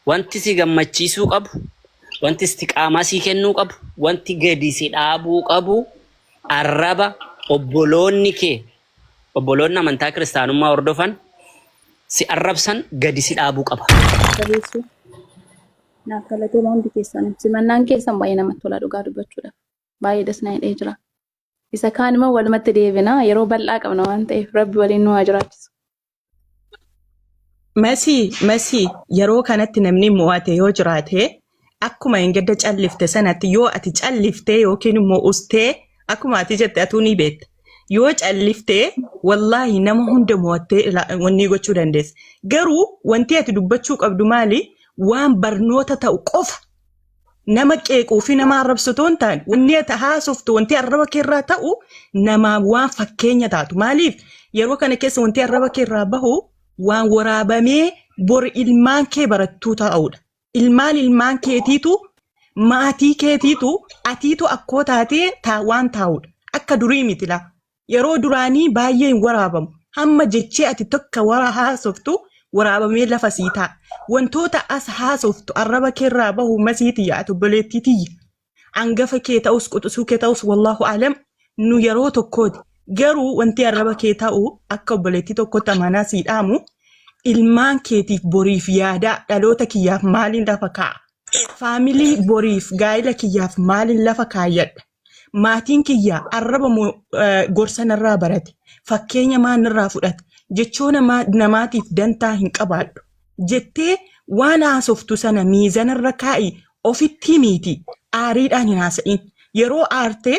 wanti si gammachiisuu qabu, wanti istiqaamaa sii kennuu qabu, wanti gadi si dhaabuu qabu arraba obboloonni kee obboloonni amantaa kiristaanummaa hordofan si arrabsan gadi si dhaabuu qaba. Jabeessuu. Naaf galatooma hundi keessan. Simannaan keessan baay'ee namatti tola dhugaa dubbachuudhaaf. Baay'ee das na hidhee jira. Isa kaan immoo walumatti deebina yeroo bal'aa qabna waan ta'eef rabbi waliin nu haa jiraachisu. Masii masii yeroo kanatti namni mo'ate yoo jiraate akkuma hin gadda callifte sanatti yoo ati calliftee yookiin immoo ustee akkuma ati jette atuu ni beekta. Yoo calliftee wallaahi nama hunda mo'attee ila- wanni gochuu dandeessa. Garuu wanti ati dubbachuu qabdu maali? Waan barnoota ta'u qofa nama qeequu fi nama arrabsu otoo hin taane wanni ati haasoftu wanti arraba kee irraa ta'u namaa waan fakkeenya taatu maaliif yeroo kana keessa wanti arraba kee irraa bahu waan waraabamee bor ilmaan kee barattuu ta'udha ilmaan ilmaan keetiitu maatii keetiitu atiitu akkoo taatee taa waan taa'udha akka durii miti laa yeroo duraanii baay'ee hin waraabamu. Hamma jechee ati tokko wara haasoftu waraabamee lafa sii ta'a. Wantoota as haasoftu arraba keerraa bahu masii tiyya ati obboleettii tiyya. Angafa kee ta'us quxisuu kee ta'us wallaahu alam nu yeroo tokkooti. Garuu wanti arraba kee ta'u akka obboleettii tokkotti amanaa sii dhaamu ilmaan keetiif boriif yaadaa dhaloota kiyyaaf maaliin lafa kaa'a? Faamilii boriif gaa'ila kiyyaaf maaliin lafa kaayyadha? Maatiin kiyya arraba moo eh, gorsa narraa barate? Fakkeenya maa narraa fudhate? Jechoona maa namaatiif dantaa hin qabaadhu. Jettee waan haasoftu sana miizanarra kaa'i ofitti himiiti aariidhaan hin haasa'in. Yeroo aarte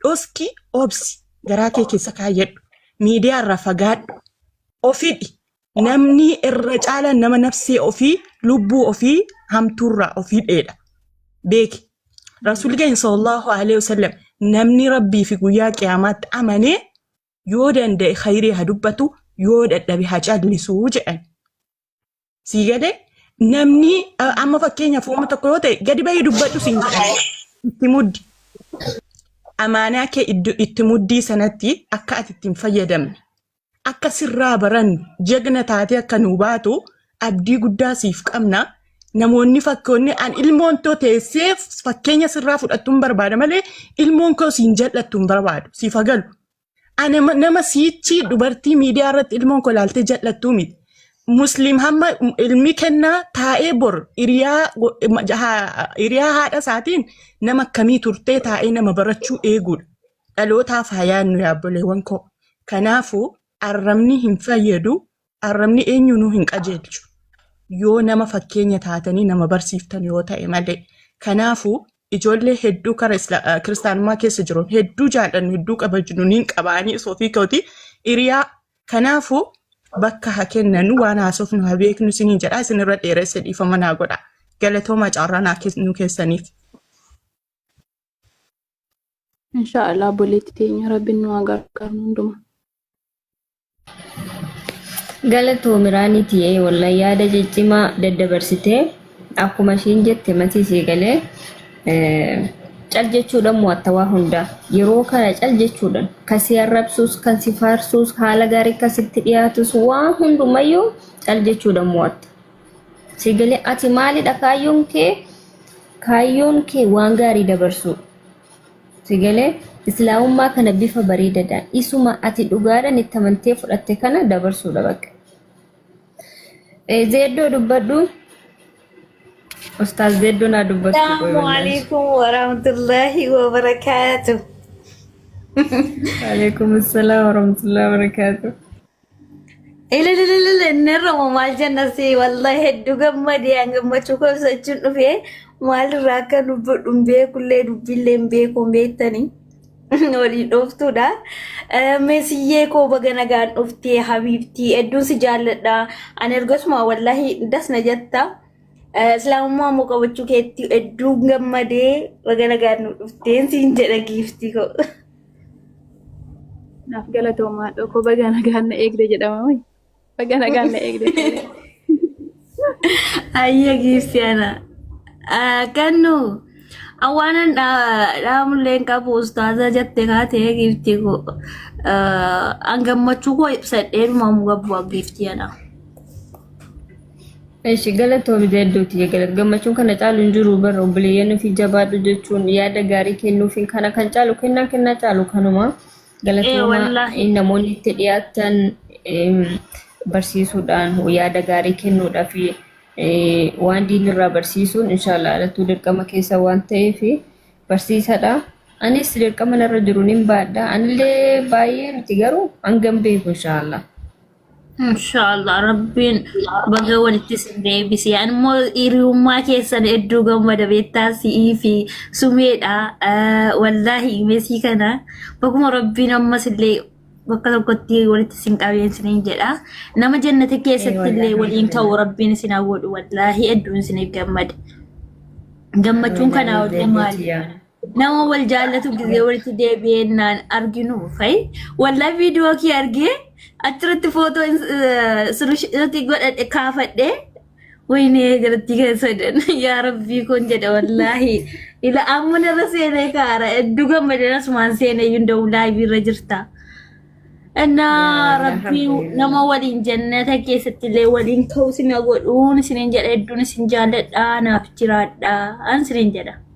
dhoski obsi garaa kee keessa kaayyadhu. Miidiyaarraa fagaadhu. Ofidhi namni irra caala nama nafsee ofii lubbuu ofii hamtuurraa ofii dheedha beeki rasuulli keenya sallallahu alaihi wasallam namni rabbii fi guyyaa qiyaamaatti amanee yoo danda'e khayrii haa dubbatu yoo dadhabe haa callisu jedhan sii galee namni a- amma fakkeenyaaf uuma tokko yoo ta'e gadi bahii dubbadhu siin jedhan itti muddi amaanaa kee iddo- itti muddii sanatti akka ati ittiin fayyadamne Akka sirraa barannu jegna taatee akka nuu baatu abdii guddaa siif qabna. Namoonni fakkoonni an ilmoon too teessee fakkeenya sirraa fudhattuun barbaada malee ilmoon koo siin jal'attu hin barbaadu siif hagalu. Ani ma- nama siichi dubartii miidiyaa irratti ilmoon koo laaltee jal'attuu miti. Musliim hamma ilmi kennaa taa'ee bor hiriyaa go- ma- ha- hiriyaa haadha isaatiin nama akkamii turtee taa'ee nama barachuu eeguudha. dhalootaaf haa yaadnu yaa obboleewwan koo. Kanaafuu arrabni hin fayyadu, arrabni eenyuunuu hin qajeelchu. Yoo nama fakkeenya taatanii nama barsiiftan yoo ta'e malee. Kanaafuu ijoollee hedduu kara isla- eh, kiristaanummaa keessa jiru hedduu jaallannu hedduu kabajnu niin qabaanii osoo ofii kootii hiriyaa. Kanaafuu bakka haa kennanu waan haasofnu haa beeknu isiniin jedha isinirra dheeresse dhiifama naa godha. Galatoomaa carraa naa kennuu keessaniif. Insha Allah obboleetti teenya rabbiin nu haa gargaaru hunduma. Galatoomi Raanii tiyee wallahi yaada ciccimaa daddabarsitee akkuma ishiin jette matii sii galee eh, cal jechuudhaan mo'atta waa hundaa yeroo kana cal jechuudhaan kan si arrabsuus kan si faarsuus haala gaarii kan sitti dhiyaatus waan hundumayyuu cal jechuudhaan mo'atta. Sigilee ati maalidha kaayyoon kee? Kaayyoon kee waan gaarii dabarsuu. Sigilee islaamummaa kana bifa bareedadhaan isuma ati dhugaadhaan itti amantee fudhatte kana dabarsuudha bakka. Zeeddoo dubbadhu. Ustaaz Zeeddoo naa dubbachuu qoy Assalamu wallaahi. alaikum warahmatullahi wabarakatuh. Waalaikum assalam warahmatullahi wabarakatuh. Ililililil inni irramu maal jenna si wallahi hedduu gammadee an gammachuu koo ibsachuun dhufe maalirraa akka dubbadhu hin beekullee dubbiillee hin beeku hin beektanii waliin dhooftuudha. Eh, Meesiyyee koo baga nagaan dhuftee habiibtii hedduun si jaalladha. Ani ergasuma wallahi das na jetta. Eh, Islaamummaa immoo qabachuu keetti hedduun gammadee baga nagaan nu dhufteen siin jedha giiftii koo. Naaf galatoomaa dhokoo baga nagaan na eegde jedhama wayi. Baga nagaan na eegde. Ayya Kiristiyaana. Kannu awwaanan dhaamullee hin qabu ustaaza jette kaatee giifti koo. An gammachuu koo ibsadhee dhumamu gabu giifti jedha. Eshi galatoomi zeedduuti jegalat gammachuun kana caalu hin jiru bara obboleeyyan ofii jabaadhu jechuun yaada gaarii kennuufiin kana kan caalu kennaa kennaa caalu kanuma Ee galatooma wallaahi. in namoonni itti dhiyaatan em, barsiisuudhaan yaada gaarii kennuudhaa fi eh, waan diinirraa barsiisuun inshaallah alattuu dirqama keessa waan ta'eef barsiisadha. Anis dirqama narra jiru nin baadha. Anillee baay'ee miti garuu hangam beeku inshaallah. Inshaallah rabbiin baga walitti isin deebise. Ani immoo hiriyummaa keessan hedduu gammada beektaa si'ii fi sumeedha. Eh, Wallaahi imesii kana baguma rabbiin ammas illee bakka tokkotti walitti isin qabeen isiniin jedha. Nama jannata Ee keessatti illee wallaahi waliin ta'u alhamdulillah. rabbiin isin haa godhu wallaahi hedduun isiniif gammade. Gammachuun Alhamdulillah kanaa olii Mujahidee maali? tiyyaa. Nama wal jaallatu gizee walitti deebi'eennaan arginu fa'i. Waldaa viidiyoo kee argee achirratti footoo sirriitti godhadhe kaafadhe. Wayinee garatti kan sadan yaa rabbii kun jedha wallaahi. Ila amma narra seenee kaara hedduu gammadeen asumaan seenee iyyuu da'u laayivii irra jirta. Innaa rabbii nama waliin jannata keessatti illee waliin ka'u isin godhuun isiniin jedha hedduun isin jaalladha naaf jiraadha an isiniin jedha.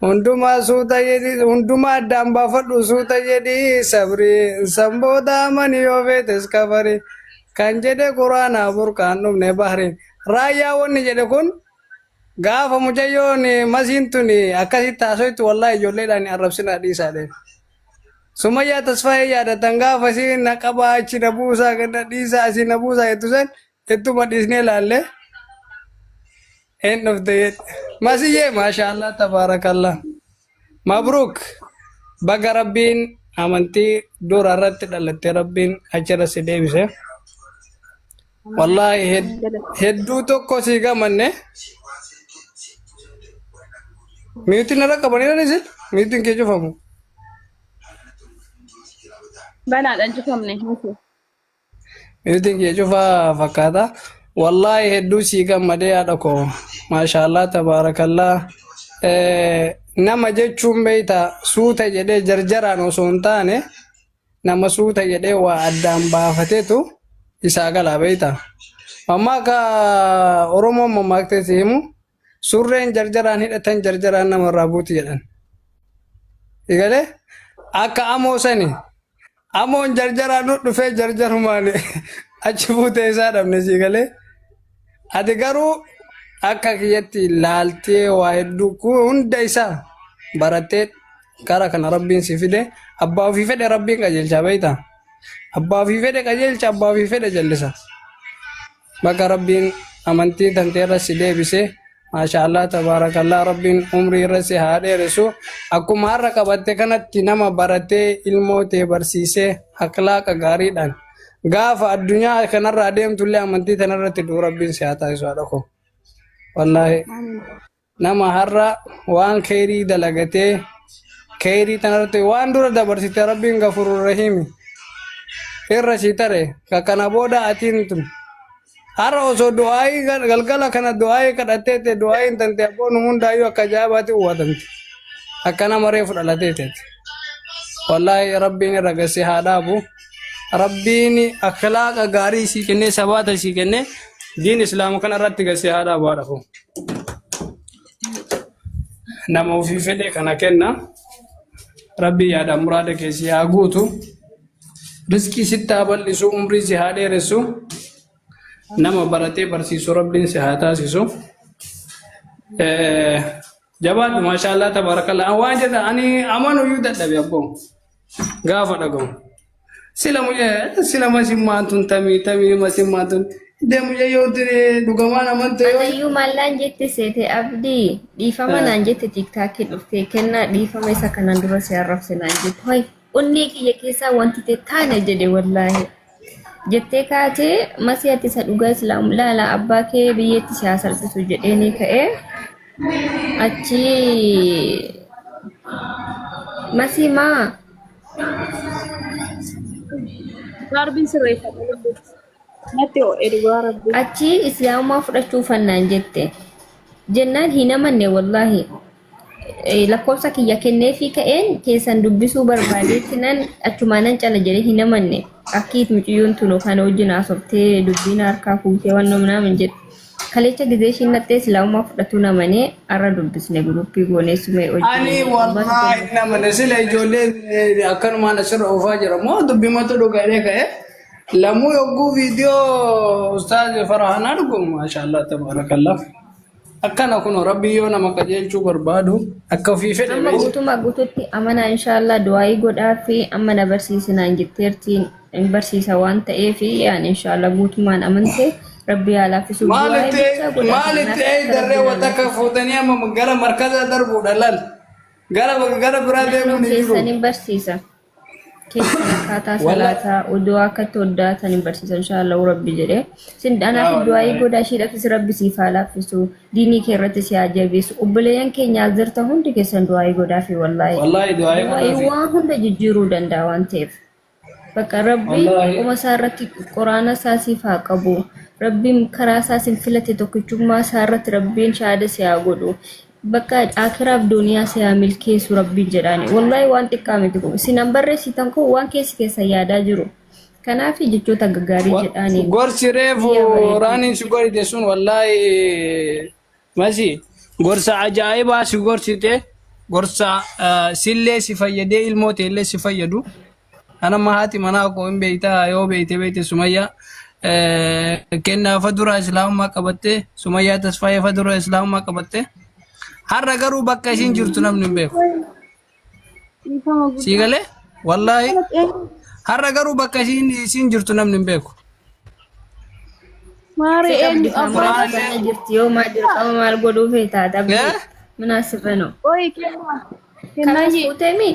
Hundumaa suuta jedhi hundumaa addaan baafadhu suuta jedhi sabri san booda amani yoo feetes kafari kan jedhe quraanaa burqaan dhumne bahri raayyaa wanni jedhe kun gaafa mucayyoon masiin tun akkasitti haasoytu wallaahi ijoolleedhaan arrabsinaa dhiisaadhe sumayyaa tasfaayee yaadatan gaafa si na qabaa achi na buusaa ganda dhiisaa asi na buusaa jettu san Ittuma dhiisnee laallee hin dhufte jedhe. Masiyyee maashaallah tabaarakallah. Mabruuk baga rabbiin amantii dura irratti dhalatte rabbiin achirra si deebise. Wallaahi hed- hedduu tokko si gamanne. Miyuutiin irra qabaniiran isin miyuutiin kee cufamu. Banaadhaan cufamne. Bifti kee cufaa fakkaata. Wallaahi hedduu sii gammadee haadha koo. Maashaallah tabaarakallah. Eh, Nama jechuun beeyta suuta jedhee jarjaraan osoo hin taane nama suuta jedhee waa addaan baafatetu isaa galaa beeyta. Amma akka Oromoon mammaaktee si himu Surreen jarjaraan hidhatan jarjaraan nama irraa buuti jedhan. Egalee akka amoo sani amoon jarjaraan nu dhufee jarjarumaan achi buutee isaa dhabne sii galee. Ati garuu akka kiyyatti laaltee waa hedduu kun hunda isaa barattee gara kana rabbiin si fide abbaa ofii fedhe rabbiin qajeelcha beekta. Abbaa ofii fedhe qajeelcha abbaa ofii fedhe jallisa. Baga Rabbiin amantii tantee irra si deebise. Maashaallah tabaarakallah Rabbiin umrii irra si haa dheeressu. Akkuma har'a qabatte kanatti nama baratee ilmoo tee barsiisee akhlaaqa gaariidhaan gaafa addunyaa kanarraa deemtullee amantii tanarratti du'u Rabbiin si haa taasisu haadha koo. Wallaahi. Nama har'a waan keeyrii dalagatee keeyrii tanarratti waan dura dabarsite rabbiin gafurur rahiimi irra si tare ka kana booda atiin tun har'a osoo du'aayii gal- galgala kana du'aayii kadhattee ta'e du'aayiin tante abboo nu hundaayyuu akka ajaa'ibaatti uwwatamte akka nama reefu dhalatee ta'e wallaahi rabbiin irra gassi haa dhaabu Rabbiin akhlaaqa gaarii sii kennee sabaata sii kennee diin islaama kana irratti gasee haa dhaabu haa dhafu. Nama ofii fedhe kana kenna. Rabbi yaada muraada kee si haa guutu. Rizqii sitti haa bal'isu, umrii si haa dheeressu. Nama baratee barsiisu Rabbiin si haa taasisu. Eh, Jabaadhu maashaallah tabaarakallaa. Waan jedha ani amanu iyyuu dadhabe abboo. gaafa dhagahu. Sila mucaa sila masimmaan tun tamii tamii masimmaan tun iddee mucaa yoo duree dhugamaan amantee yoo Anayyuu maallaan jette seete abdii dhiifama Ah. naan jette tiiktaakii dhuftee kennaa dhiifama isa kanaan dura si arrabse naan jette. Hoy onnee kiyya keessaa wanti ta'e taane jedhe wallaahi. jettee kaatee masii ati isa dhugaa islaamu laala abbaa kee biyyeetti si haa salphisu jedhee ni ka'ee achi masii maa Darbiin sirreeffadha lubbuutti. Natti ho'e dhugaa rabbi. achi islaamummaa fudhachuu fannaan jette jennaan hin amanne wallaahi Eh, lakkoofsa kiyya kenneefii ka'een keessan dubbisuu barbaadeetti nan achumaanan cala jedhee hin amanne akkiit muciyyoon tun kan wajjin haasoftee dubbiin harkaa fuutee waan namnaa hin jedhu kalecha gizee ishiin naxxee silaamumaa fudhatuun amanee arra dubbisne guruppii goonee sumee Ani hojjii wallaahi hin amane sila ijoolleen eh, akkanumaan asirra oofaa jira moo dubbimatu dhugaadhee ka'e lamuu yogguu viidiyoo ustaaz farahanaa dhugu maashaallah tabarakallah Akkana kunoo rabbi yoo nama qajeelchuu barbaadu akka ofii fedhe Amma beeysa. guutummaa guututti amanaa inshaallah du'aa'ii godhaa fi amma na barsiisinaan jetteertiin hin barsiisa waan ta'eef yaan inshaallah guutummaan amante rabbi yaa laaffisuuf du'aa'ii Maalitti bichaa godhaa maalitti eeydarree wanta akka fuutanii amma gara markazaa darbuudha laal. Gara gara biraa deemuun hin jiru. keessan hin barsiisa. keessan akkaataa Wala- salaataa uduu akka itti hoddaatan hin barsiisan inshaallahu rabbi jedhee sin Yaa anaaf du'aayii wallaahi. godhaa ishiidhafis rabbi siif haa laaffisu diinii kee irratti si haa jabeessu obboleeyyan keenya as jirtan hundi keessan du'aayii godhaa fi wallaahi Wallaahi du'aayii du'aayii godhaa fi- waan hunda jijjiiruu danda'a waan ta'eef bakka rabbi Wallaahi. qoma isaa irratti quraana isaa siif haa qabu rabbiin karaa isaa sin filate tokkichummaa isaa irratti rabbiin shaada si haa godhu Bakka akiraaf duniyaa siyaa milkeessu rabbiin jedhaani. Wallahi waan xiqqaa miti kun. Sinan barreessitan kun waan keessi keessan yaadaa jiru. Kanaaf jechoota gaggaarii jedhaani. Gorsi reefu Biyya bareedduu. raaniin si gorite sun wallaahi masi gorsa ajaa'ibaa si gorsite gorsa eh, sillee si fayyadee ilmoo teellee si fayyadu Ana amma haati manaa koo hin beektaa yoo beekte beekte Sumayyaa eh, kennaa fa dura islaamummaa qabattee Sumayyaa Tasfaayee fa dura islaamummaa qabattee har'a garuu bakka ishiin jirtu namni hin beeku. Dhiifama Sii guddaa. galee wallaahi Kana xeenu har'a garuu bakka ishiin isiin jirtu namni hin beeku. maaree Seeqa eenyu bilisaan abbaa Qur'aana Qur'aanillee keenya jirti yoo maal dirqama maal godhuu feetaa dhabdee eh? minaa sirranoo. qoyi kennaa. Kennaa Kanaas fuutee mii?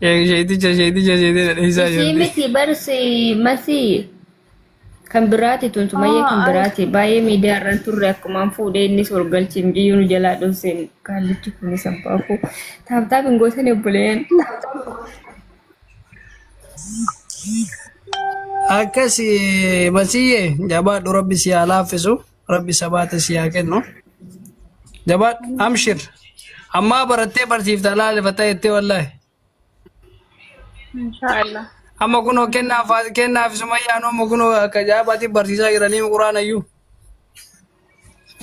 Sheeticha sheeticha sheetee dhadheessaa Isii jirti. miti barsi masii kan biraati tun sumayyee kan biraati baay'ee miidiyaa irra hin turre akkumaan fuudhee innis ol galchee mucayyoo nu jalaa dhooseen kaallichi kunis abbaa koo taaptaap hin gootan obboleen Akkas masiyyee jabaadhu rabbi si haa laaffisu. rabbi sabaata si haa kennu jabaadhu amshir ammaa barattee barsiifta laalefatta jettee wallaahi Inshaallah. amma kunoo kennaa faa- kennaa fi sumayyaan amma kunoo akka jaabaatti barsiisaa jiranii quraanayyuu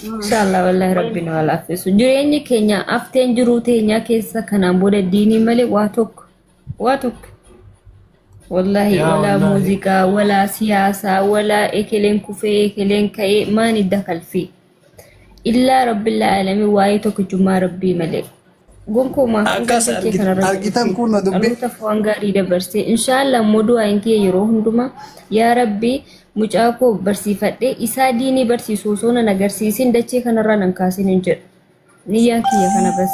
Inshallah wallahi rabbiin wal affisu. Jireenyi keenya afteen jiruu teenyaa keessa kanaan booda diinii malee waa tokko Waa tokko. Wallaahi Yaa walaa wallaahi. muuziqaa, walaa siyaasaa, walaa ekeleen kufee, ekeleen ka'ee maan idda kalfii. Illaa rabbil aalamiin waa'ee tokkichummaa rabbii malee. Gonkumaa hanga Akkas kee argi- kanarratti argitan ibsi. kun na dubbi- Dhalootaf waan gaarii dabarsee. Inshaallah immoo du'aan kee yeroo hundumaa yaa rabbi mucaa koo barsiifadhee isaa diinii barsiisu osoo nan agarsiisin dachee kanarraa nan kaasin hin jedhu. Niyyaan kiyya kana bas.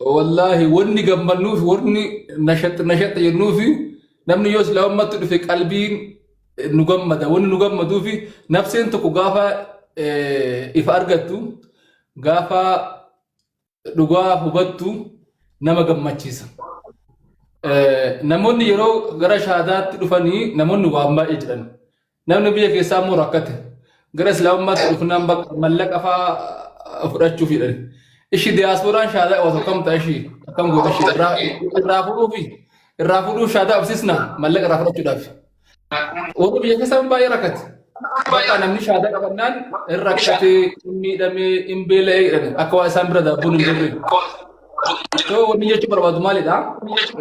Wallaahi wanni gammannuuf wanni nashaxxa nashaxxa jennuufi namni yoo silaa ummatti dhufe qalbiin eh, nu gammada. Wanni nu gammaduufi nafseen tokko gaafa eh, ifa argattu gaafa dhugaa hubattu nama gammachiisa. Eh, Namoonni yeroo gara shaadaatti dhufanii namoonni waan baay'ee jedhan. Namni biyya keessaa immoo rakkate. Gara Islaamummaatti dhufnaan bakka mallaqa fa'aa fudhachuuf jedhan. Ishi diyaaspooraan shaadaa qabatu akkam ta'a ishii akkam goota ishii irraa irraa fudhuu fi irraa fudhuu shaadaa qabsiisna mallaqa irraa fudhachuudhaaf. Warri biyya keessaa baay'ee rakkate. Bakka namni shaadaa qabannaan hin rakkate, hin miidhame, hin beela'e jedhan akka waa isaan bira daabboon hin jirre. Yoo wanni jechuun barbaadu maalidha?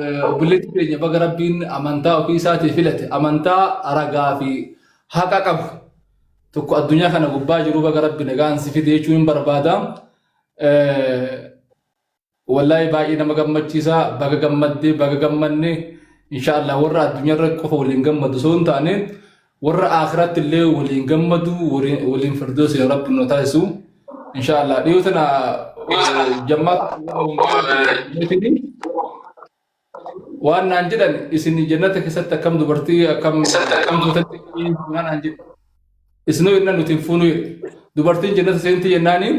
Eh, Obboleessi keenya baga rabbiin amantaa ofii isaatii filate amantaa ragaa fi haqa qabu tokko addunyaa kana gubbaa jiru baga rabbi nagaan si fide jechuun hin barbaada. Eh, Wallahi baay'ee nama gammachiisa baga gammadde baga gammanne inshaallah warra addunyaa irra qofa waliin gammadu osoo hin taane Warra aakhiratti illee waliin gammadu waliin waliin firdoosi yaa rabbi nu taasisu insha Allah dhiyoo tana eh, jammaata Mootiin waan naan jedhan isin jannata keessatti akkam dubartii akkam akkam duutatti waan naan jedhan isinoo jennaan nuti hin fuunuu jedhe dubartiin jannata seenti jennaaniin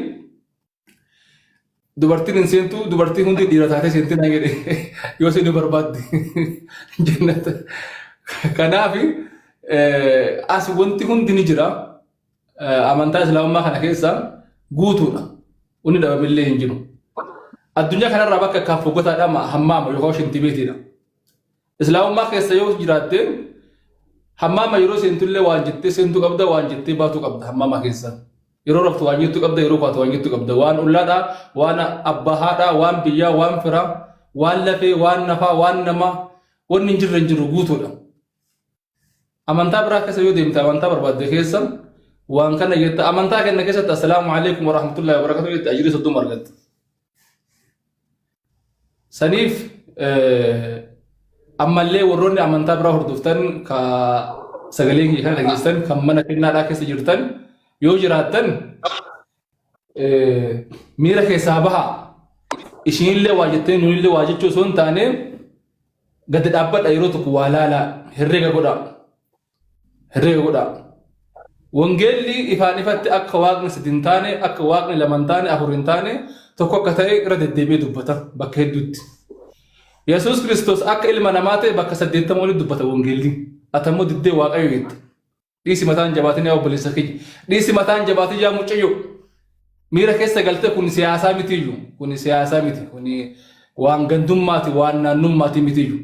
Dubartiin hin seentu dubartii hundi dhiira taatee seenti naan jedhe yoo seenuu barbaadde jennata. Kanaaf as wanti hundi ni jira. Amantaa Islaamummaa kana keessa guutuudha. Inni dhabamillee hin jiru. Addunyaa kanarraa bakka akkaan fogotaadha hammaama yookaan shintibeetiidha. Islaamummaa keessa yoo jiraatte hammaama yeroo seentullee waan jettee seentu qabda waan jettee baatu qabda hammaama keessa. Yeroo raftu waan jettu qabda yeroo kaatu waan jettu qabda waan ollaadhaa waan abbaa haadhaa waan biyyaa waan firaa waan lafee waan nafaa waan namaa wanni hin jirre hin jiru guutuudha. Amantaa biraa keessa yoo deemte amantaa barbaadde keessa waan kana jetta amantaa kenna keessatti assalaamu alaikum warahmatullahi wabarakatuh jette ajrii soddoma argatta. Saniif ammallee warroonni amantaa biraa hordoftan ka sagalee kiyya kana dhageessan kan mana kennaadhaa keessa jirtan yoo jiraattan miira keessaa bahaa ishiinillee waa jettee nuyillee waa jechuu osoo hin taane gadi dhaabbadha yeroo tokko waa laalaa herreega godhaa herreega godhaa wangeelli ifaan ifatti akka waaqni sadi hin taane akka waaqni lama hin taane afur hin taane tokko akka ta'e irra deddeebi'ee dubbata bakka hedduutti yesuus kiristoos akka ilma namaa ta'e bakka saddeettama walitti dubbata wangeelli atammoo diddee waaqayyo jette Dhiisi mataan jabaatin yaa obboleessa kiyya. Dhiisi mataan jabaatin yaa mucayyo. Miira keessa galtee kun siyaasaa mitiiyyu. Kun siyaasaa miti. Kun waan gandummaati waan naannummaati mitiiyyu.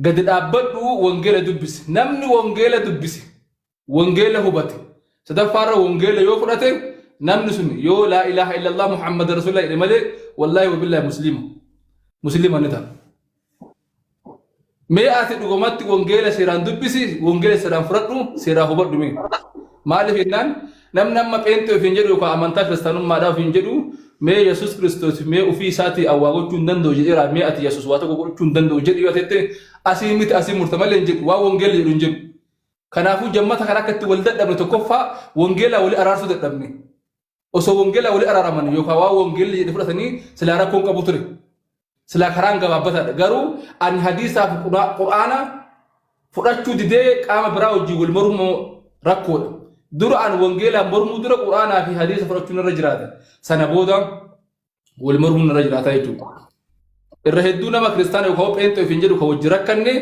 Gadi dhaabbadhu wangeela dubbisi. Namni wangeela dubbisi. Wangeela hubate. Sadaffaarra wangeela yoo fudhate namni sun yoo laa ilaaha illallah Muhammad Rasulullah jedhe malee wallaahi wabillahi musliima. Musliima ni ta'a. Mee ati dhugumatti wangeela seeraan dubbisi, wangeela seeraan fudhadhu, seeraa hubadhu mee. Maaliif jennaan namni amma pheenxee ofiin jedhu yookaan amantaa kiristaanummaadhaa ofiin jedhu mee Yesuus Kiristoos mee ofii isaatii awwaa gochuu hin danda'u jedheera mee ati Yesuus waa tokko gochuu hin danda'u jedhi yoo jette asii miti asii murta malee hin jedhu waan wangeelli jedhu hin jedhu. Kanaafuu jammata kan akka itti wal dadhabne tokkoffaa wangeelaa wali araarsuu dadhabne. Osoo wangeelaa walii araaraman yookaan waan wangeelli jedhe fudhatanii silaa rakkoon qabu ture. Silaa karaan gabaabbataadha. Garuu ani hadiisaa fi Qura- qur'aana fudhachuu didee qaama biraa wajjin wal mormuun immoo rakkoodha. Dura an wangeelaan mormuu dura qur'aanaa fi hadiisa fudhachuun irra jiraata. Sana booda wal mormuun irra jiraataa jechuudha. Irra hedduu nama kiristaana yookaan pheenxee ofiin jedhu kan wajjin rakkanne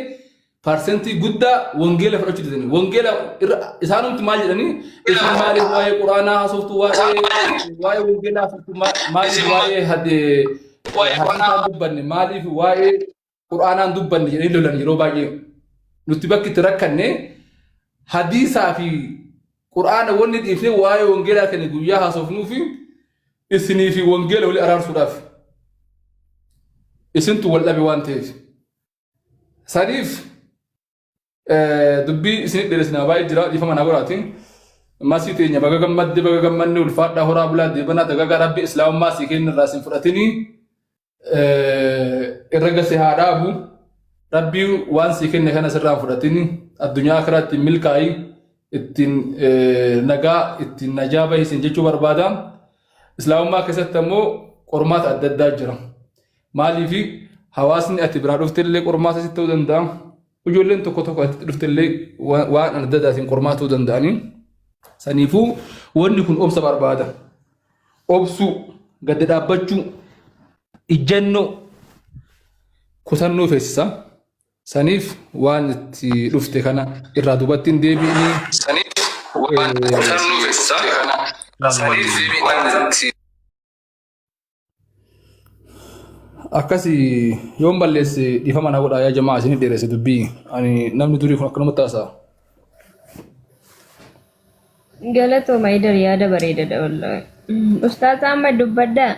parsentii guddaa wangeela fudhachuu didanii. Wangeela irra isaanumti maal jedhanii isin maaliif waa'ee quraanaa haasoftu waa'ee waa'ee wangeelaa haasoftu ma- maaliif waa'ee hadee hadiisaan dubbanne maaliif waa'ee qur'aanaan dubbanne jedhanii lolan yeroo baay'ee nuti bakki itti rakkanne hadiisaa fi qur'aana wanni dhiifne waa'ee wangeelaa kan guyyaa haasofnuu fi isinii fi wangeela wali araarsuudhaaf isintu wal dhabe waan ta'eef saniif Dubbii isinit dheeressinaa baay'ee jira dhiifama naa godhaati. Masii teenya baga gammadde baga gammanne ulfaadhaa horaa bulaa deebanaa dagagaa rabbi islaamummaa sii kenna irraa isin fudhatinii irra gase haa dhaabu. Rabbii waan sii kenne kana sirraan fudhatinii addunyaa akiraa ittiin milkaa'ii ittiin nagaa ittiin najaa bahi isin jechuu barbaada. Islaamummaa keessatti ammoo qormaata adda addaa jira. Maaliif hawaasni ati biraa dhuftellee qormaata sitti ta'uu danda'a. Ijoolleen tokko tokko ati dhuftellee waan adda addaatiin qormaata ta'uu danda'anii. Saniifuu wanni kun obsa barbaada. Obsuu, gadda dhaabbachuu, ijjannoo, kutannoo feesisa. Saniif waan itti dhufte kana irraa duubatti hin deebi'inii. Saniif waan itti dhufte kana irraa duubatti hin deebi'inii. akkasi yoon balleesse dhiifama na godhaa yaa jamaa isinif dheeresse dubbii ani namni durii kun akkanumatti haasa'a. Galatooma idar yaada bareedadha wallahi. Ustaaza amma dubbadhaa.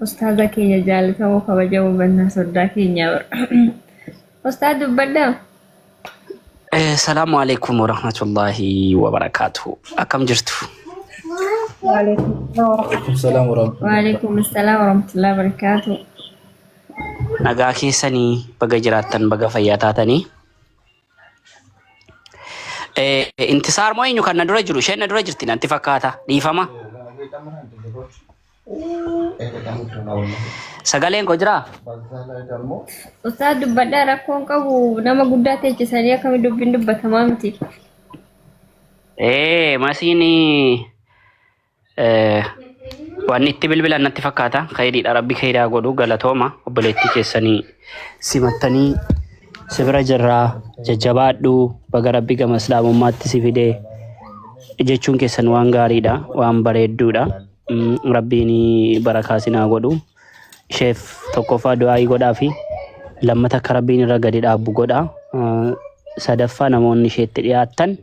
Ustaaza keenya jaalatamoo kabajamoo bannaa soddaa keenya bara. Ustaaz dubbadhaa. Salaamu alaikum warahmatullahi wabarakatuh. Akkam jirtu? Waalaikum salaam warahmatullahi. Waalaikum salaam warahmatullahi wabarakatuh. Nagaa keessanii baga jiraattan baga fayyaa taatanii. Eh, Intisaar moo eenyu kan na dura jiru? Isheen na dura jirti natti fakkaata. Dhiifama. Sagaleen koo jiraa? Ustaaz dubbadhaa rakkoon qabu nama guddaa teechisanii akkami dubbiin dubbatamaa miti. Ee masiin eh, waan itti bilbilan natti fakkaata. Kaydiidha rabbi kaydaa godhu galatooma obboleettii keessanii simattanii si bira jirraa jajjabaadhu baga rabbi gama islaamummaatti si fidee jechuun keessan waan gaariidha waan bareedduudha. Rabbiin barakaa sin haa godhu. Sheef tokkoffaa du'aa'ii godhaa fi lammata akka Rabbiin irra gadi dhaabbu godha. Sadaffaa namoonni isheetti dhiyaattan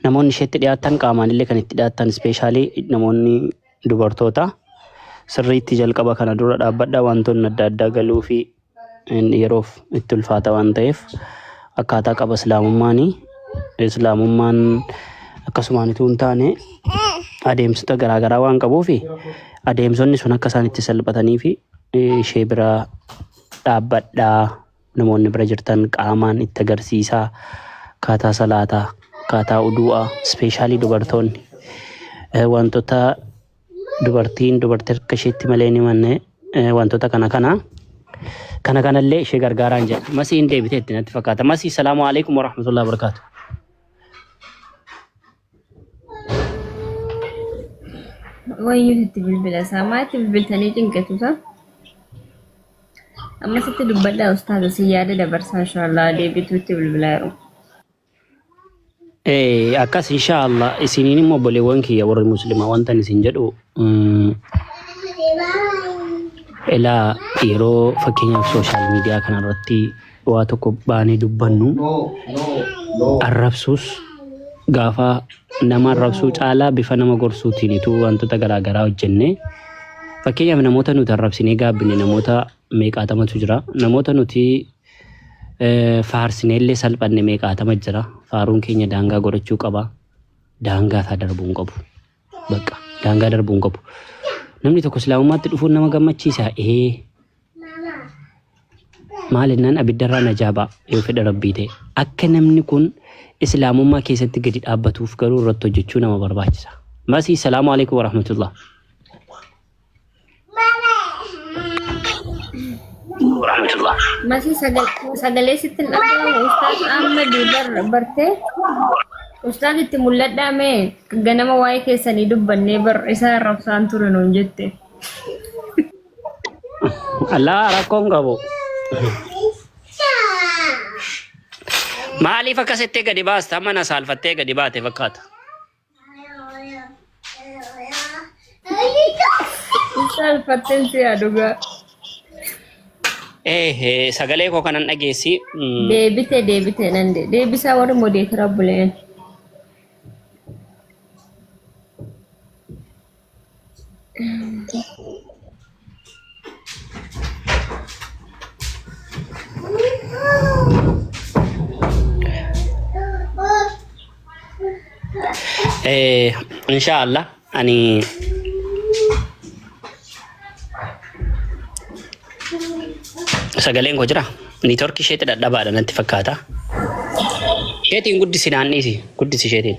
namoonni isheetti dhiyaattan qaamaan illee kan itti dhiyaattan ispeeshaalii namoonni dubartoota sirriitti jalqaba kana dura dhaabbadha wantoonni adda addaa galuu fi Inni yeroof itti ulfaata waan ta'eef akkaataa qaba islaamummaani. Islaamummaan akkasumaan utuu hin taane adeemsota garaagaraa waan qabuuf adeemsonni sun akka isaan itti salphatanii fi ishee bira dhaabbadhaa namoonni bira jirtan qaamaan itti agarsiisaa akkaataa salaataa akkaataa udu'aa ispeeshaalii dubartoonni wantoota dubartiin dubartii harka isheetti malee hin himanne eh, wantoota kana kana kana kanallee ishee gargaaraan jedha masii hin deebitee itti natti fakkaata masii salaamu alaikum warahmatullahi wabarakaatu Wayyuu sitti bilbila isaa maatti bilbiltanii cinqatu isaa. Amma sitti dubbadhaa ustaaza si yaada dabarsaa inshaallaa deebituutti bilbilaa yeroo. Eh, akkas insha Allah isiniin immoo obboleewwan kiyya warri muslimaa wantan isin jedhu mm, ilaa yeroo fakkeenyaaf sooshaal miidiyaa kanarratti waa tokko baanee dubbannu arrabsuus gaafa nama arrabsuu caalaa bifa nama gorsuutiinitu wantoota garaagaraa hojjenne fakkeenyaaf namoota nuti arrabsinee gaabbine namoota meeqaatamatu jira. Namoota nuti faarsine illee salphanne meeqaatama jira. Faaruun keenya daangaa godhachuu qaba. Daangaa isaa darbuu hin qabu. Bakka daangaa darbuu hin qabu. Namni tokko islaamummaatti dhufuun nama gammachiisa. Ee maal jennaan abiddarraa najaa ba'a yoo fedha rabbii ta'e. Akka namni kun islaamummaa keessatti gadi dhaabbatuuf garuu irratti hojjechuu nama barbaachisa. Masii salaamu alaikum warahmatullah. Warahmatullah. Masii sagal- sagalee sitti hin dhaga'amu ustaaz Ahmed bar bartee ustaaz itti mul'adhaa mee ganama waa'ee keessanii dubbannee bar isaa arrabsaan ture nuun jette. Allah rakkoon qabu. Maaliif akkasitti gadi baasta? Mana saalfattee gadi baate fakkaata. Isaan fatteen si yaa dhugaa. Eh, eh, sagalee koo kanan dhageessi. Mm, Deebite deebite nan de- deebisaa warri modeetira buleen. Eh, inshallah ani sagaleen koo jira niitoorki isheetti dhadhabaadha natti fakkaata isheetiin guddisi naannisi guddisi isheetiin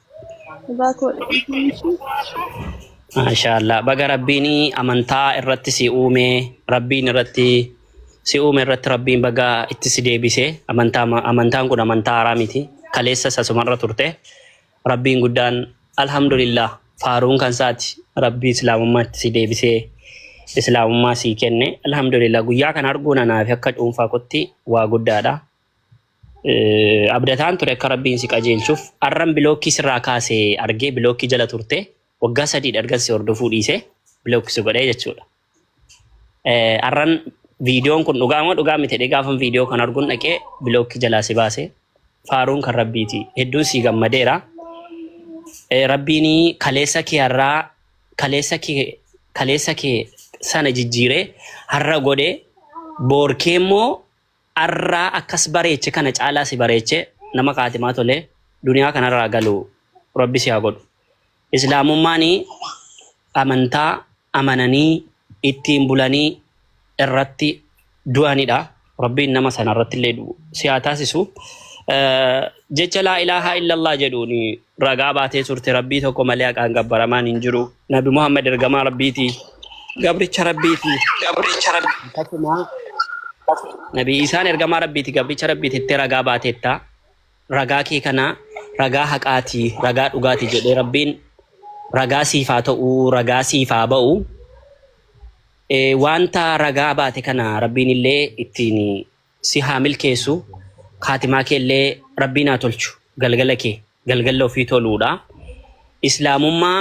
Dhugaa koodha dhiifama ishii. Maashaallah baga rabbiin amantaa irratti si uume rabbiin irratti si uume irratti rabbiin baga itti si deebise amantaa amantaan kun amantaa haaraa miti kaleessa sasumarra turte rabbiin guddaan alhamdulillah faaruun kan isaati rabbii islaamummaa itti si deebisee islaamummaa sii kenne alhamdulillah guyyaa kana arguun anaafi akka dhuunfaa kotti waa guddaadha Eh, Abdataan ture akka rabbiin si qajeelchuuf arran bilookkii sirraa kaase argee bilookkii jala turte waggaa sadii dhargan si hordofuu dhiise bilookki si godhee jechuudha. Eh, Arran viidiyoon kun dhugaa moo dhugaa miti jedhee gaafan viidiyoo kan arguun dhaqee bilookki jalaa si baase faaruun kan rabbiiti hedduun si gammadeera. Eh, Rabbiin kaleessa kee har'aa kaleessa kee kaleessa kee sana jijjiiree har'a godhe boorkee immoo Arraa akkas bareeche kana caalaa si bareeche nama kaatimaa tole duniyaa kanarraa galu rabbi si haa godhu islaamummaan amantaa amananii ittiin bulanii irratti du'anidha rabbiin nama sanarrattillee du'u si haa taasisu jecha laa ilaahaa illallah jedhuun ragaa baatee turte Rabbii tokko malee haqaan gabbaramaan hin jiru. Nabi Muhammad ergamaa Rabbiiti. Gabricha Rabbiiti. Gabricha Rabbi. Akkasuma Nabi Isaan ergamaa Rabbiiti gabricha Rabbiiti itti ragaa baateetta. Ragaa kee kana ragaa haqaati, ragaa dhugaati jedhee Rabbiin ragaa siif haa ta'u, ragaa siif haa ba'u. Eh, Wanta ragaa baate kana Rabbiin illee ittiin si haa milkeessu kaatimaa keellee rabbiin haa tolchu galgala kee galgalla ofii toluudha islaamummaa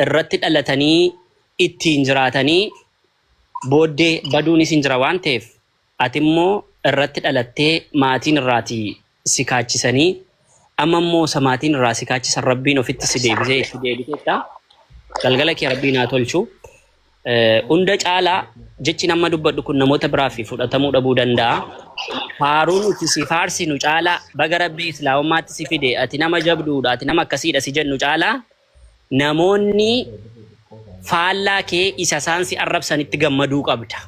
irratti dhalatanii ittiin jiraatanii booddee baduunis hin jira waan ta'eef atimmoo irratti dhalattee maatiin irraati si kaachisanii amma immoo isa maatiin irraa si kaachisan rabbiin ofitti si deebisee itti deebiteetta galgala kee rabbiin haa tolchu Eh, hunda caalaa jechi nama dubbadhu kun namoota biraaf fudhatamuu dhabuu danda'a faaruu nuti si faarsinu caalaa baga rabbii islaamummaatti si fide ati nama jabduudha ati nama akkasiidha si jennu caalaa namoonni faallaa kee isa isaan si arrabsanitti gammaduu qabda.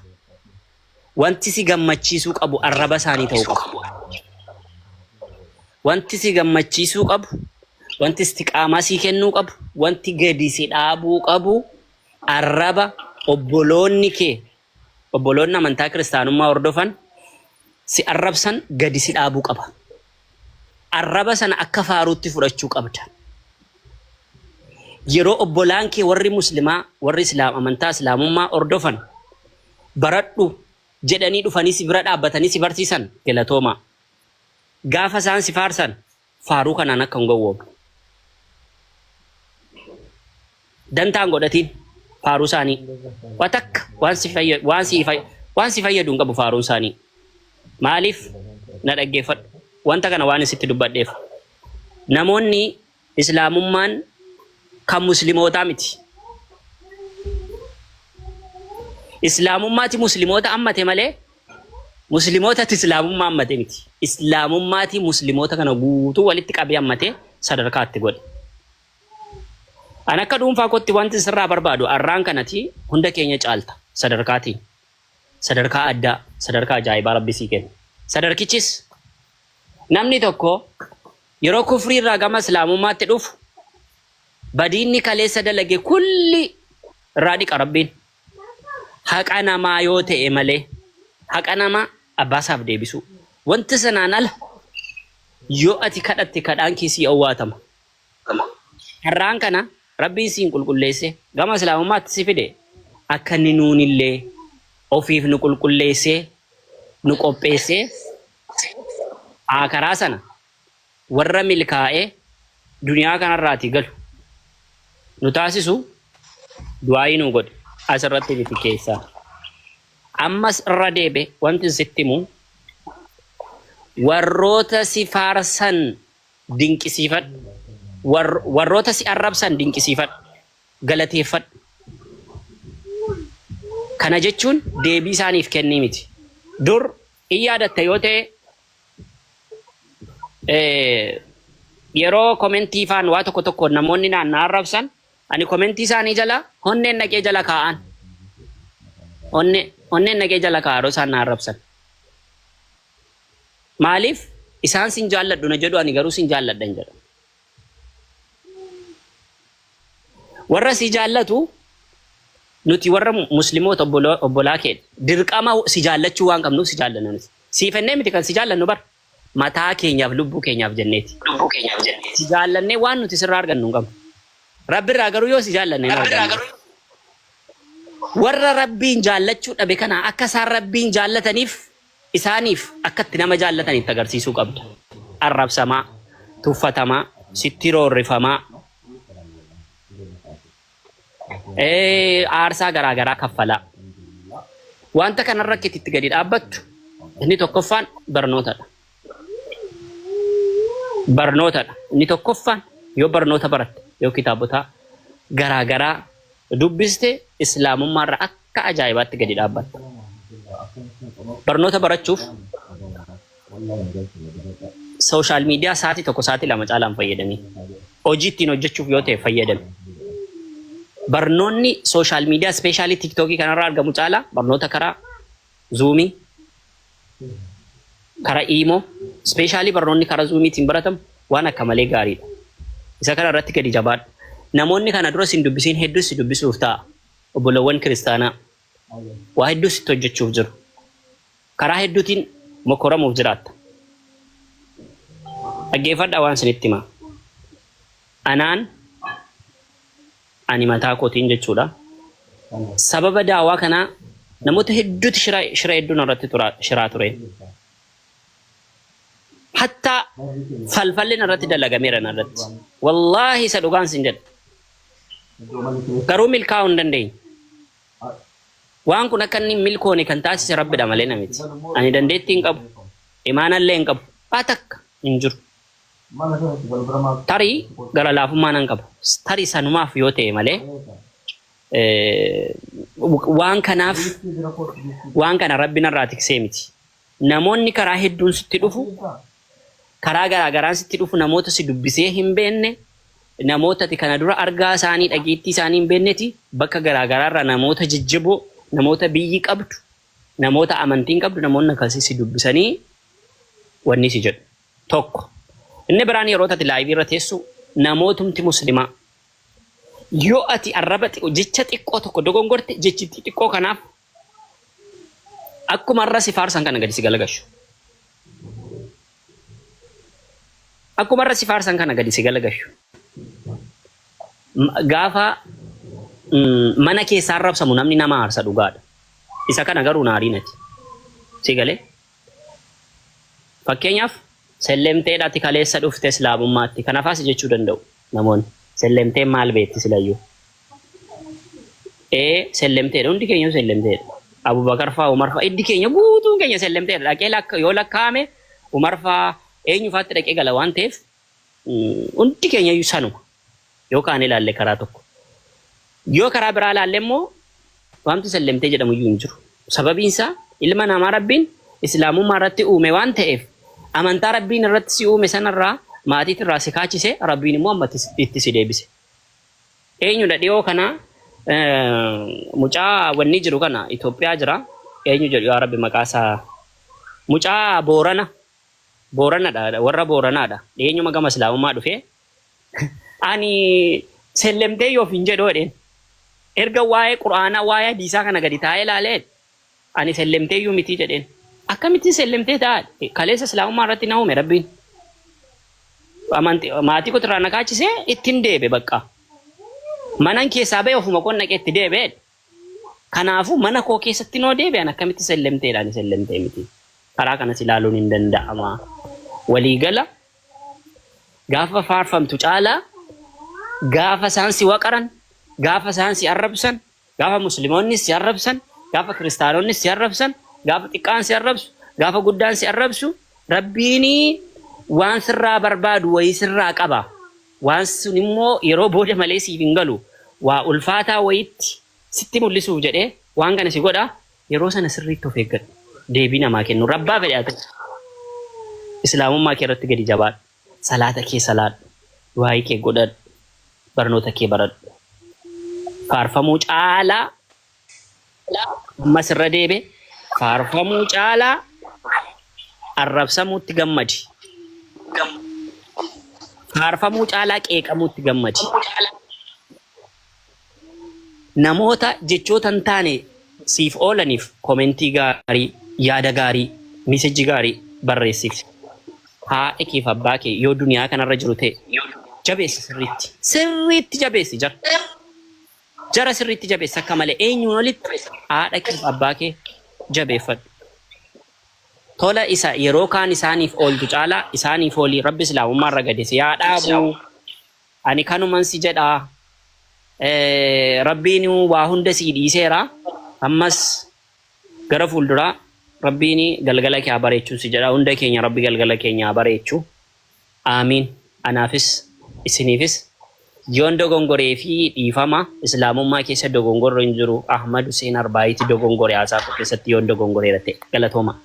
Wanti si gammachiisuu qabu arraba isaanii ta'uu qaba. Wanti si gammachiisuu qabu, wanti istiqaamaa sii kennuu qabu, wanti gadi si dhaabuu qabu arraba obboloonni kee, obboloonni amantaa kiristaanummaa hordofan si arrabsan gadi si dhaabuu qaba. arraba sana akka faaruutti fudhachuu qabda. Yeroo obbolaan kee warri muslimaa, warri islaam, amantaa islaamummaa hordofan baradhu jedhanii dhufanii si bira dhaabbatanii si barsiisan galatoomaa. Gaafa isaan si faarsan faaruu kanaan akka hin gowwoomne. dantaa hin godhatiin faaruu isaanii waa takka waan si fayya- waan si fay- waan si fayyadu hin qabu faaruun isaanii maaliif na dhaggeeffadhu wanta kana waan isitti dubbadheef namoonni islaamummaan kan muslimootaa miti islaamummaati muslimoota ammate malee muslimootatti islaamummaa ammate miti islaamummaati muslimoota kana guutuu walitti qabee ammate sadarkaatti godhe An akka dhuunfaa kootti wanti sirraa barbaadu arraan kan ati hunda keenya caalta sadarkaatiin sadarkaa addaa sadarkaa ajaa'ibaa rabbi sii kenne sadarkichis namni tokko yeroo kufrii irraa gama islaamummaatti dhufu badiinni kaleessa dalage kulli irraa dhiqa rabbiin haqa namaa yoo ta'e malee haqa namaa abbaasaaf deebisuu wanti sanaan ala yoo ati kadhatte kadhaan kee sii owwaatama Gama. Har'aan kana Rabbiin siin qulqulleessee gama Islaamummaatti si fide akka inni nuunillee ofiif nu qulqulleessee nu qopheessee Aakhiraa sana warra milkaa'ee duniyaa kanarraatii galu nu taasisu du'aayii nuu godhi asirratti miti keessaa. Ammas irra deebi'e wantin sitti himu warroota si faarsan dinqisiifadhu, warroota si arrabsan dinqisiifadhu, galateeffadhu. Kana jechuun deebii isaaniif kennii miti. Dur in yaadatta yoo ta'e yeroo komentii faan waa tokko tokko namoonni naan na arrabsan ani komentii isaanii jala honneen dhaqee jala kaa'an. Honneen dhaqee jala kaa'aa yeroo isaan na arrabsan. Maaliif? Isaan sin jaalladhu na jedhu ani garuu sin jaalladhan jedha. Warra si jaallatu nuti warra muslimoota obboloo- obbolaa keedha. Dirqama si jaallachuu waan qabnuuf si jaallanna nuti. Siif ennee miti kan si jaallannu bar mataa keenyaaf lubbuu keenyaaf jenneeti. lubbuu keenyaaf jenneeti. Si jaallannee waan nuti sirraa argannu hin qabnu. Rabbi irraa garuu yoo si jaallanne hin Rabbi irraa argannu. garuu Warra Rabbiin jaallachuu dhabe kana akka isaan Rabbiin jaallataniif Isaaniif akka itti nama jaallatan itti agarsiisuu qabda. Arrabsamaa, tuffatamaa, sitti roorrifamaa, aarsaa garaa garaa kaffalaa. Wanta kanarra akka itti gadi dhaabbattu inni tokkoffaan barnootadha. Barnootadha. Inni tokkoffaan yoo barnoota baratte yoo kitaabotaa garaa garaa dubbiste Islaamummaarra akka ajaa'ibaatti gadi dhaabbatta. Barnoota barachuuf sooshaal miidiyaa sa'aatii tokko sa'aatii lama caalaan fayyadamii. Hojii ittiin hojjechuuf yoo ta'e fayyadami. Barnoonni sooshaal miidiyaa ispeeshaalii tiiktookii kanarraa argamu caalaa barnoota karaa zuumii, karaa iimoo, ispeeshaalii barnoonni karaa zuumiitiin baratamu waan akka malee gaariidha. Isa kana irratti gadi jabaadhu. Namoonni kana dura sin dubbisiin hedduus si dubbisuuf ta'a. Obbolawwan kiristaanaa waa hedduu sitti hojjechuuf jiru. Karaa hedduutiin mokoramuuf jiraatta. Dhaggeeffadhaa waan sinitti himaa. Anaan Ani mataa kootiin jechuudha. Sababa daawaa kanaa namoota hedduuti shira shira hedduu narratti tura shiraa ture. Hatta falfalli narratti dalagameera narratti. Wallaahi isa dhugaan sin jedha. Garuu milkaa'uu hin dandeenye. Waan kun akka inni hin milkoone kan taasise rabbidha malee na miti. Ani dandeettii hin qabu. Imaanallee hin qabu. Waa takka hin jiru. Tarii gara laafummaa nan qaba. Tarii sanumaaf yoo ta'e malee waan kanaaf waan kana Rabbi narraa tiksee miti. Namoonni karaa hedduun sitti dhufu, karaa garaa garaan sitti dhufu namoota si dubbisee hin beekne, namoota ati kana dura argaa isaanii dhageettii isaanii hin beekneti bakka garaa garaarraa namoota jajjaboo, namoota biyyi qabdu, namoota amantiin qabdu namoonni akkasii si dubbisanii wanni si jedhu. tokko inni biraan yeroo tati laayivii irra teessu namootumti muslimaa yoo ati arraba xiqqoo jecha xiqqoo tokko dogongorte jechi xiqqoo kanaaf akkuma irra si faarsan kana gadi si galagashu akkuma irra si faarsan kana gadi si galagashu M- gaafa mm, mana keessaa arrabsamu namni nama aarsa dhugaadha isa kana garuu naarii nati si galee Fakkeenyaaf, Sellemteedha ati kaleessa dhufte Islaamummaatti. Kanafaa si jechuu danda'u namoonni. Sellemteen maal beekti silayyuu? Ee, Sellemteedha. Hundi keenyuu Sellemteedha. Abubakar faa, Umar faa, hiddi keenya guutuun keenya Sellemteedha. Dhaqee lakka, yoo lakkaa'ame Umar faa eenyu faatti dhaqee gala waan ta'eef hundi keenya iyyuu sanuma. Yoo kaanee ilaalle karaa tokko. Yoo karaa biraa ilaalle immoo waanti sallemtee jedhamu iyyuu hin jiru. Sababiin isaa ilma namaa Rabbiin Islaamummaa irratti uume waan ta'eef amantaa Rabbiin irratti si uume sanarraa maatiit irraa si kaachise Rabbiin immoo amma itti si deebise. Eenyudha dhiyoo kana mucaa wanni jiru kana Itoophiyaa jira. Eenyu jedhu yaa Rabbi maqaa isaa mucaa Boorana. Booranadha warra Booranaadha dhiyeenyuma gama Islaamummaa dhufee ani sellemtee yoo ofiin jedhu jedheen erga waa'ee Qur'aanaa waa'ee hadiisaa kana gadi taa'ee ilaalee ani sellemtee iyyuu mitii jedheen akkamittiin sellemtee ta'a kaleessa Islaamummaa irratti na uume rabbiin amanti maatii kotirraa na kaachisee ittiin deebe bakka manan keessaa ba'e ofuma qonnaqee itti deebe Kanaafuu mana koo keessattin hoo deebi'an akkamitti sellemteedhaani sellemtee miti. Karaa kanas ilaaluun hin danda'ama. Walii gala gaafa faarfamtu caalaa gaafa isaan si waqaran, gaafa isaan si arrabsan, gaafa muslimoonnis si arrabsan, gaafa kiristaanonnis si arrabsan, gaafa xiqqaan si arrabsu, gaafa guddaan si arrabsu rabbiini waan sirraa barbaadu wayii sirraa qaba. Waan sun immoo yeroo booda malee siif hin galu. Waa ulfaataa wayiitti sitti mul'isuuf jedhee waan kana si godha. Yeroo sana sirriitti of eeggadhu. Deebii namaa kennuurra abbaa fedhe haa ta'u. Islaamummaa kee irratti gadi jabaadhu. Salaata kee salaadhu. Du'aa'ii kee godhadhu. Barnoota kee baradhu. Faarfamuu caalaa caalaa ammas irra deebe faarfamuu caalaa arrabsamuutti gammadi faarfamuu caalaa qeeqamuutti gammadi namoota jechoota hin taane siif oolaniif komentii gaarii yaada gaarii misejji gaarii barreessiif haadha keef abbaa kee yoo duniyaa kanarra jiru ta'e jabeessi sirriitti sirriitti jabeessi jara Jara sirriitti jabeessi akka malee eenyuun olitti haadha keef abbaa kee jabeeffadhu. Tola isa yeroo kaan isaaniif ooltu caalaa isaaniif ooli rabbi islaamummaa irra gadi si haa dhaabu ani kanuman si jedha rabbiin waa hunda sii dhiiseera ammas gara fuulduraa rabbiin galgala kee haa bareechu si jedha hunda keenya rabbi galgala keenya haa bareechu. Aamiin anaafis isiniifis Yoon dogongoree fi dhiifama islaamummaa keessa dogongorri hin jiru Ahmad Huseen Arbaayiiti dogongore haasaa koo keessatti yoon dogongoreera ta'e galatoomaa.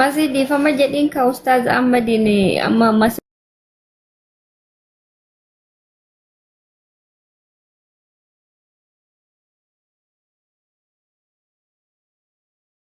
Masii dhiifama jedhiin kaa ustaaz Ahmadiin amma amma